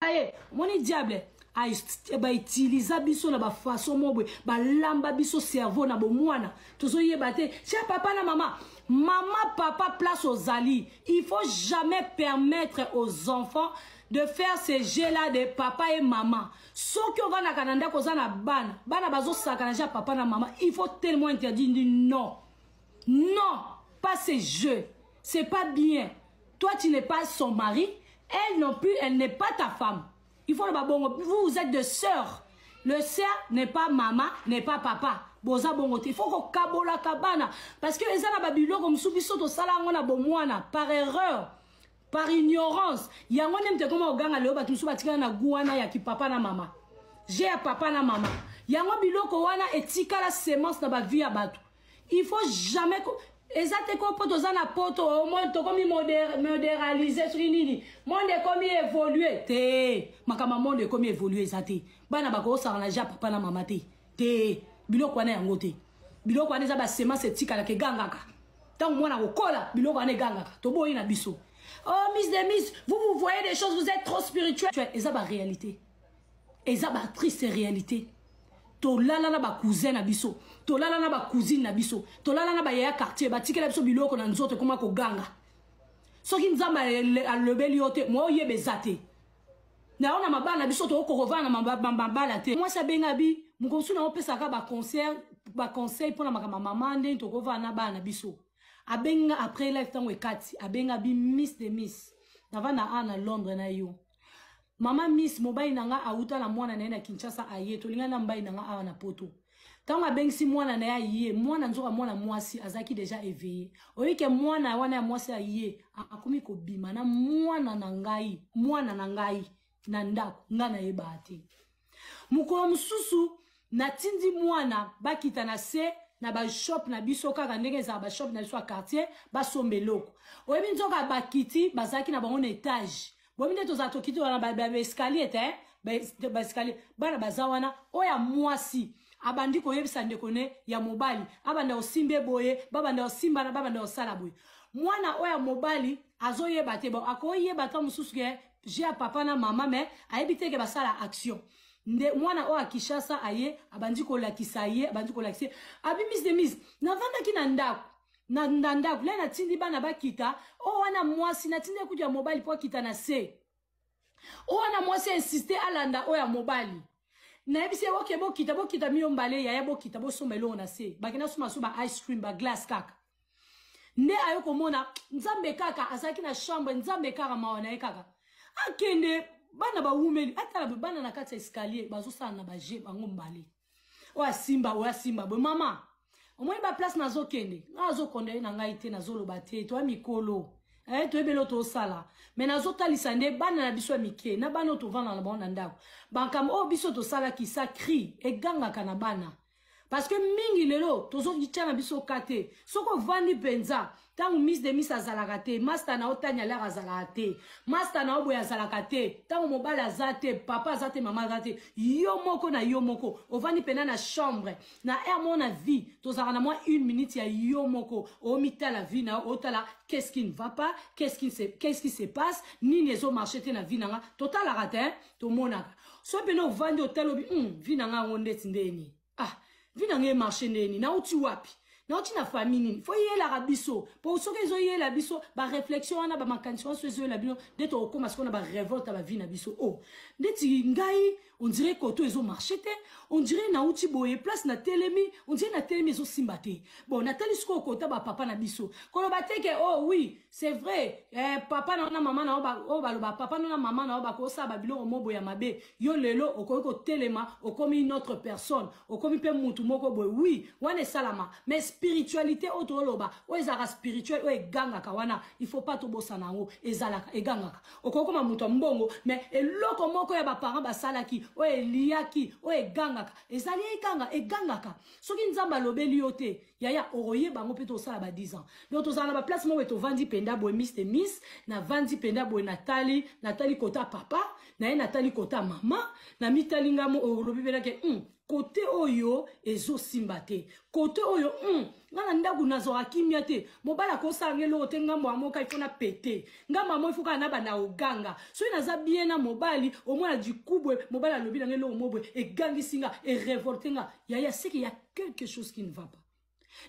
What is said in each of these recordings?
aye omoni diable bautiliza biso na bafaçon moko boye balamba biso cerveau na bomwana tozoyeba te tia papa na mama mama papa place ozali il faut jamais permettre aux enfants de faire ce jeu là de papa et maman soki ovandaka na ndako oza na bana bana bazosakana ja papa na mama il faut tellement interdire ndi non non pas ce jeu c'est pas bien toi tu n'es pas son mari elle non plus elle n'est pas ta femme il faut loba bongo vous vous êtes de sœurs le sœur n'est pas mama n'est pas papa boza bongo te il faut kokabolaka bana parce que eza na babiloko mosusu biso tosala yango na bomwana par erreur par ignorance yango nde moto ekoma koganga leo bato mosusu batikala na gu wana ya kipapa na mama je ya papa na mama yango biloko wana etikala semence na bavie ya bato il faut jamais ko eza te ko mpo toza na poto tokomi moderalise soki nini monde ekomi évolue te makambo monde ekomi évolue eza te bana bakosangana ja papa na mama te te biloko wana yango te biloko wana eza basemence etikalaka egangaka ntango mwana kokola biloko wana egangaka toboyi na biso oh miss de miss vous vous voyez des choses vous êtes trop spirituel eza baréalité eza ba triste réalité tolala na bacousin na biso tolala na bacousine na biso tolala na bayaya quartier batikela biso biloko na nzoto ekoma koganga soki nzambe alobeli yo te mwa oyeba eza te na yo na mabala na biso tokokovana na mabala te mwasi abenga bi mokomosu na yo opesaka baconseil baconseil mpo na makambo ya mama ndenge tokovana na bana na biso abenga après life ntango ekati abenga bi miss de miss nava na a na londres na yo mama miss mobali na nga awuta na mwana na ye na kinshasa aye tolingani na mobali na nga awa na poto ntango abengisi mwana na ye aye mwana nzoka mwana mwasi azalaki deja eveille oyike mwana wana ya mwasi aye akomi kobima na mwana na ngai mwana na ngai na ndako ngai nayebaa te mokolo mosusu natindi mwana bakita na se na bashop na biso kaka ndenge ezala bashop na biso ya quartier basomba eloko oyebi nzoka bakiti bazalaki na bango na etage boyebi nde tozala tokiti wana baescalier te eh? basikali bana baza wana oyo ya mwasi abandi koyebisa ndeko ne ya mobali abanda kosimba eboye babanda kosimbana babanda kosala boye mwana oyo ya mobali azoyeba te bon akoyeba ta mosusu ke je ya papa na mama mais ayebi te ke basala action nde mwana oyo akishasa aye abandi kolakisa ye abandi kolakisa ye abimis de mise navandaki na ndako na, na ndako le natindi bana bakita oyo oh, wana mwasi natindi ekutu ya mobali mpo akita na se oyo oh, wana mwasi insiste alanda oyo ya mobali nayebisi ye oke bokita bokita miyo mbale yaya bokita bosomba elongo na se bakenda soma so ba ice cream ba glace kaka nde aye komona nzambe kaka azalaki na chambre nzambe kaka mawa na ye kaka akende bana bawumeli atala boye bana na kati ya escalier bazosala na baje bango mbale oyo asimba oyo asimba boye mama omoni baplace nazokende nga azokondane na ngai te nazoloba te toya mikolo eh, toyebeli oyo tosala me nazotalisa nde bana na biso ya mike na bana oyo tovanda na bango na ndako bankambo oyo biso tosalaki sa cri egangaka na bana parce que mingi lelo tozotya na biso ka te soki ovandi mpenza ntango miss de miss azalaka te masta na yo tani alere azalaka te masta na yo boye azalaka te ntango mobali aza te papa aza te mama aza te yo moko na yo moko ovandi mpena na chambre na aire moko na vie tozalaka na mwa une minute ya yo moko omitala vie na yo otala qu'est ce qui ne va pas qu'est ce qui se passe nini ezomarche te na vie na nga totalaka te tomonaka so mpena ovandi otali obi mm, vi na ngai yango ndeti ndeni ah vi na ngai emarche ndeni nauti wapi nauti na famille nini fo eyelaka biso mpo soki ezoyela biso baréflexion wana bamakanisi wana so ezoyela bino nde tokokóma sikoyo na barevolte ya bavie na biso o oh, ndeti ngai ondire koto ezomarche te ondire nauti boye place na telemi ondire na telemi ezosimba te bon natali sikoyo kota bapapa na biso koloba te ke o oh, wi c'est vrai eh, papa na yo na mama na yo oyo baloba papa no na mama na yo bakosala babiloko mobo ya mabe yo lelo okoki kotelema okomi une autre personne okomi mpe mutu moko boye oui wana esalama mais spiritualité oyo toloba oyo ezalaka spirituel oyo egangaka wana il faut pas tobosana yango ezalaka egangaka okoki koma moto ya mbongo mais eloko moko ya baparent basalaki oyo eliyaki oyo egangaka ezali eganga egangaka soki nzambe alobeli yo te yaya okoyeba yango mpe tosala ba 10 ans donc tozala na baplace moko tovandi mpenza boye miss te miss navandi mpenza boye natali natali kota papa na ye natali kota mama na mitali ngamo olobi mpenake hmm, kote oyo ezosimba te kote oyo hmm, nga na ndako nazwaka kimia te mobali akosala nga eloko te ngambo ya moka ifo na pete ngambo yango ifo kaka na banda oganga soki naza bien na mobali omona dikubwe mobali alobi na nga eloko mobwe egangisi nga erevolte nga yaya seke ya quelque chose qui ne va pas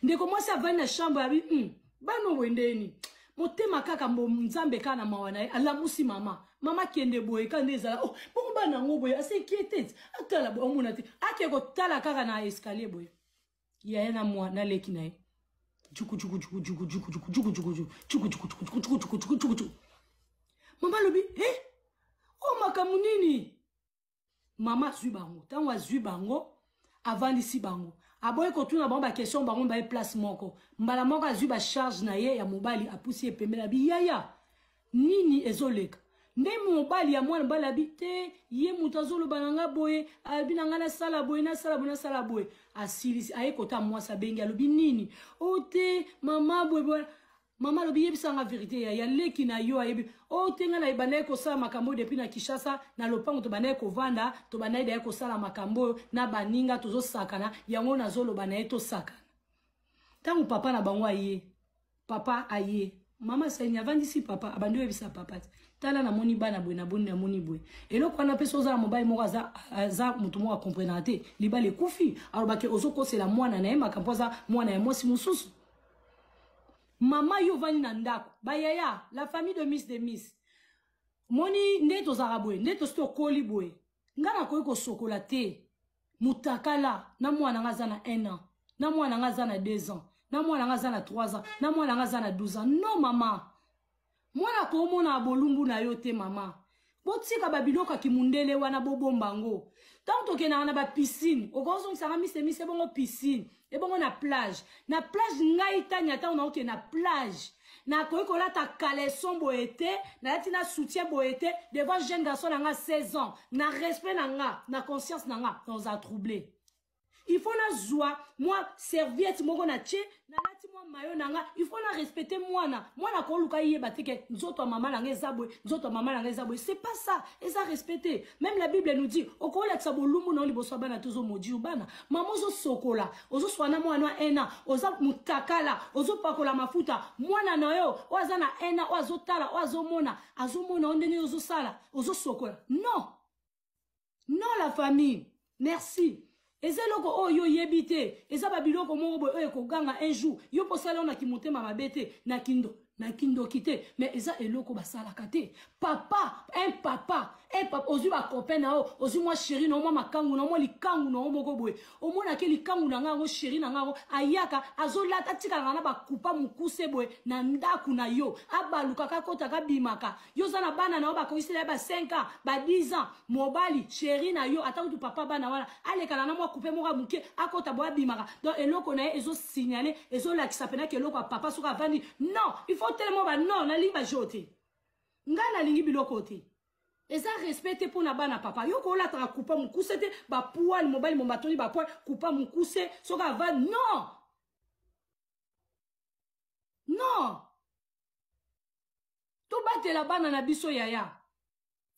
ndeko mwasi avandi na chambre abi mm, bana oboye ndeni motema kaka mbo nzambe kaka na mawa na ye alamusi mama mama kende boye kaka nde ezala oh, bongo bana yango boye asinquiete atala boye omona te ake kotala kaka na escalier boye yaya na mwa na leki na ye mama alobi e o makambo nini mama azwi bango ntango azwi bango avandisi bango aboyi kotuna bango baquestion bango baye place moko mbala moko azwi bacharge na ye ya mobali apusi ye pembe na biyaya nini ezoleka nde mobali ya mwana mobali abi te ye moto azoloba na ngai boye abi na ngai nasala boye nasala boye nasala boye asilisi aye kota mwasi abengi alobi nini o oh, te mama boye mama alobi yebisa nga verite ya, ya leki na yo ayebi o oh, te ngai nabandaki kosala makambo oyo depuis na kinshasa na lopango tobandaki kovanda tobandaki daya kosala makambo oyo na baninga tozosakana yango nazoloba na ye tosakana ntango papa na bango aye papa aye mama saini avandisi papa abandi oyebisa papa te tala namoni bana boye naboni namoni boye eloko wana mpe soki oza na mobali moko aza, aza moto moko akomprenaka te libala ekufi alobaki ozokosela mwana na ye makambo aza mwana ya mwasi mosusu mama yo ovandi na ndako bayaya la famille de miss de miss moni nde tozalaka boye nde tosi tokoli boye ngai nakoki kosokola te mutakala na mwana ngai aza na 1 an na mwana ngai aza na 2 ans na mwana ngai aza na 3 ans na mwana ngai aza na 12 ans non mama mwana akomona bolumbu na yo te mama botika babiloko ya kimundele wana bobomba yango ntango tokendaka na bapisine okozongisaka misemise ebongo pisine ebongo na plage na plage ngai tania ntango naokende na plage nakoki kolata caleson boye te nalati na soutien boye te devant jeune garçon na nga 16 ans na respect na nga na conscience na nga naoza trouble il faut nazwa mwa serviette moko na tie nalati mwa mayo na nga il faut na respecte mwana mwana akoluka yeba te ke nzoto ya mama na nga eza boye nzoto ya mama na nga eza boye c'est pas ça eza respect te même la bible nous dit okolakisa bolumbu na yo liboso ya bana te ozomodi yo bana mama ozosokola ozoswa na mwana ya ena oza motakala ozopakola mafuta mwana na yo oyo aza na ena oyo azotala oyo azomona azomona yo ndenge ozosala ozosokola non non la famille merci eza eloko oyo yo oyebi te eza babiloko moko boye oyo ekoganga un jour yo mpo osala yo na kimotema mabe te na kindo na kindoki te mais eza eloko basalaka te papa un papa un papa ozwi bacopain na yo ozwi mwa sheri na yo mwa makangu na yo mwa likangu na yo moko boye omona ke likangu na nga yango sheri na nga yango ayaka azolata atikalaka na bakupa mokuse boye na ndako na yo abalukaka akotaka abimaka yo oza na bana na yo bakokisela ya ba 5 ans ba 10 ans mobali sheri na yo ata kutu papa bana wana alekala na mwa kupe moko ya moke akota boye abimaka donc eloko na ye ezosignale ezolakisa mpena ke eloko ya papa soki avandi non il faut telema ba non nalingi bajo te ngai nalingi biloko te eza respect te mpo na bana papa yo kolataka kupa mokuse te bapoile mobali momatoli bapoile kupa mokuse soki ava non non tobatela bana na biso yaya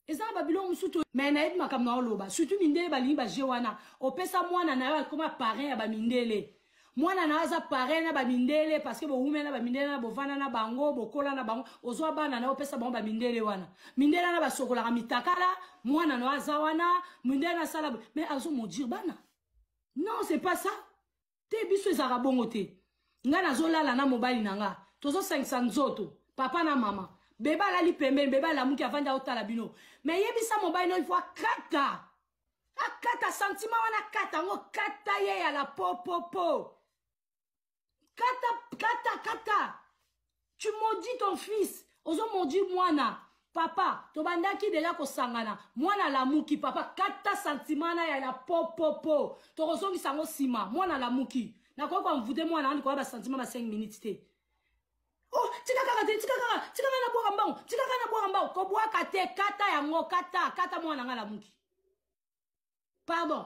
eza na babiloko mosusu to me nayebi makambo na oloba surtout mindele balingi baje wana opesa mwana na yo akoma parrain ya bamindele mwana na yo aza pare na bamindele parceke bowumela na bamindele na bovanda na bango bokola na bango ozwa bana na yo opesa bango bamindele wana mindele wana basokolaka mitakala mwana na yo aza wana mindele na asala me azo modire bana non c'est pas ça te biso ezalaka bongo te ngai nazolala na mobali na ngai tozosangisa nzoto papa na mama bebe alali pembeni bebe alamuki avandi aotala bino me yebisa mobali no ifo akata akata sentiment wana akata yango kata ye ya la popopo kata kata kata tu maudis ton fils ozo maudit mwana papa tobandaki deja kosangana mwana alamuki papa kata sentiment na ya la popopo tokozongisa yango nsima mwana alamuki nakoki koamvude mwana andi koya basentiment ba 5 minutes te oh tika kaka te tika kaka tika kaka nabwaka mbangu tika kaka nabwaka mbangu kobwaka te kata yango kata kata mwana ngai lamuki pardon